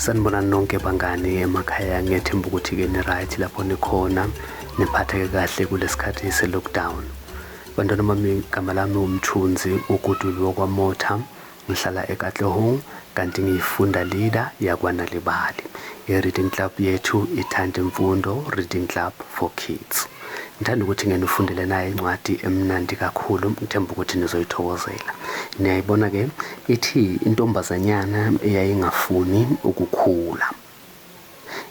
sanibona nonke bangani emakhaya ngethemba ukuthi-ke ni-right lapho nikhona niphatheke kahle kulesikhathi se-lockdown bantwana bami igama lami umthunzi uguduliwe kwamotha ngihlala ekatlehong kanti ngiyifunda leader yakwaNal'ibali, iReading Club yethu ithanda imfundo, Reading Club for Kids. Ngithanda ukuthi ngenifundele naye incwadi emnandi kakhulu, ngithemba ukuthi nizoyithokozela. Niyayibona-ke, ithi intombazanyana eyayingafuni ukukhula.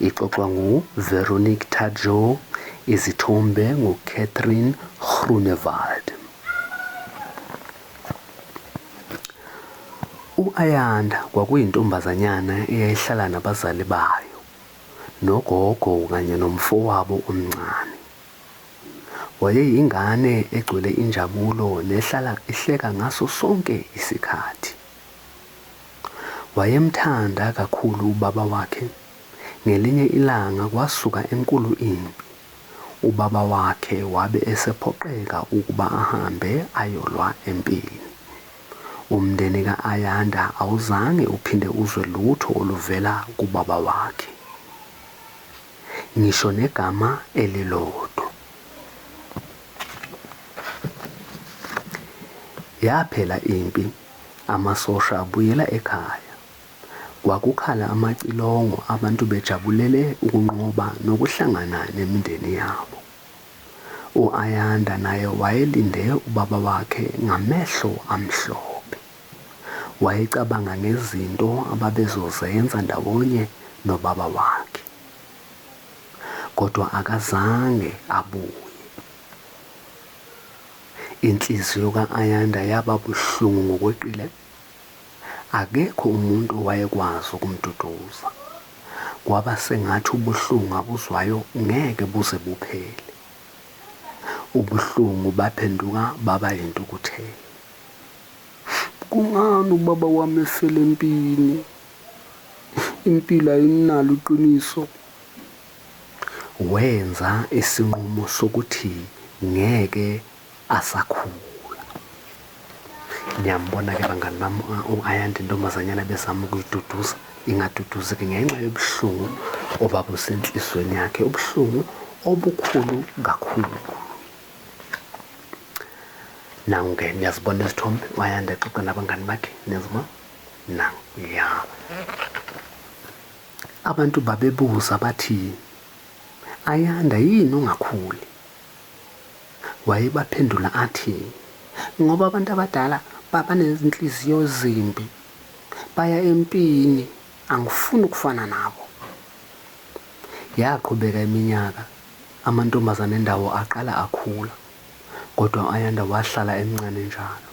Ixoxwa nguVeronique Tadjou, izithombe nguCatherine Groenewald. U-Ayanda kwakuyintombazanyana eyayihlala nabazali bayo, nogogo kanye nomfowabo omncane. Wayeyingane egcwele injabulo nehlala ihleka ngaso sonke isikhathi. Wayemthanda kakhulu ubaba wakhe. Ngelinye ilanga kwasuka enkulu impi. Ubaba wakhe wabe esephoqeka ukuba ahambe ayolwa empini. Umndeni ka-Ayanda awuzange uphinde uzwe lutho oluvela kubaba wakhe. Ngisho negama elilodwa. Yaphela impi. Amasosha abuyela ekhaya. Kwakukhala amacilongo abantu bejabulele ukunqoba nokuhlangana nemindeni yabo. U-Ayanda naye wayelinde ubaba wakhe ngamehlo amhlophe. Wayecabanga ngezinto ababezozenza ndawonye nobaba wakhe. Kodwa akazange abuye. Inhliziyo ka-Ayanda yaba buhlungu ngokweqile. Akekho umuntu owayekwazi ukumduduza. Kwaba sengathi ubuhlungu abuzwayo ngeke buze buphele. Ubuhlungu baphenduka baba yintukuthelo. Kungani ubaba wami efela empini? Impilo ayinalo iqiniso. wenza isinqumo sokuthi ngeke asakhula. Niyambona-ke bangani bami u-ayanda intombazanyana bezama ukuyiduduza ingaduduzi-ke ngenxa yobuhlungu obabusenhlizweni yakhe ubuhlungu obukhulu kakhulu nangu-ke niyazibona izithombe u-ayanda exoxa nabangani bakhe niyazibona nangu ya Abantu babebuza bathi, Ayanda, yini ungakhuli? Wayebaphendula athi, Ngoba abantu abadala babanezinhliziyo ezimbi, baya empini, angifuni ukufana nabo. Yaqhubeka iminyaka, amantombazane endawo aqala akhula, kodwa u-Ayanda wahlala emncane njalo.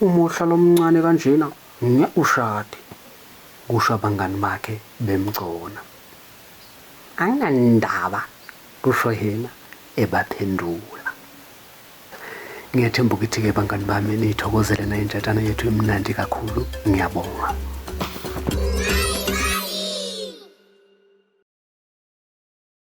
Uma uhlala umncane kanjena, Ngeke ushade, kusho abangani bakhe bemgcona. Anginandaba, kusho yena ebaphendula. Ngiyathemba ukuthi-ke bangani bami niyithokozele nayo intshatshana yethu imnandi kakhulu. Ngiyabonga.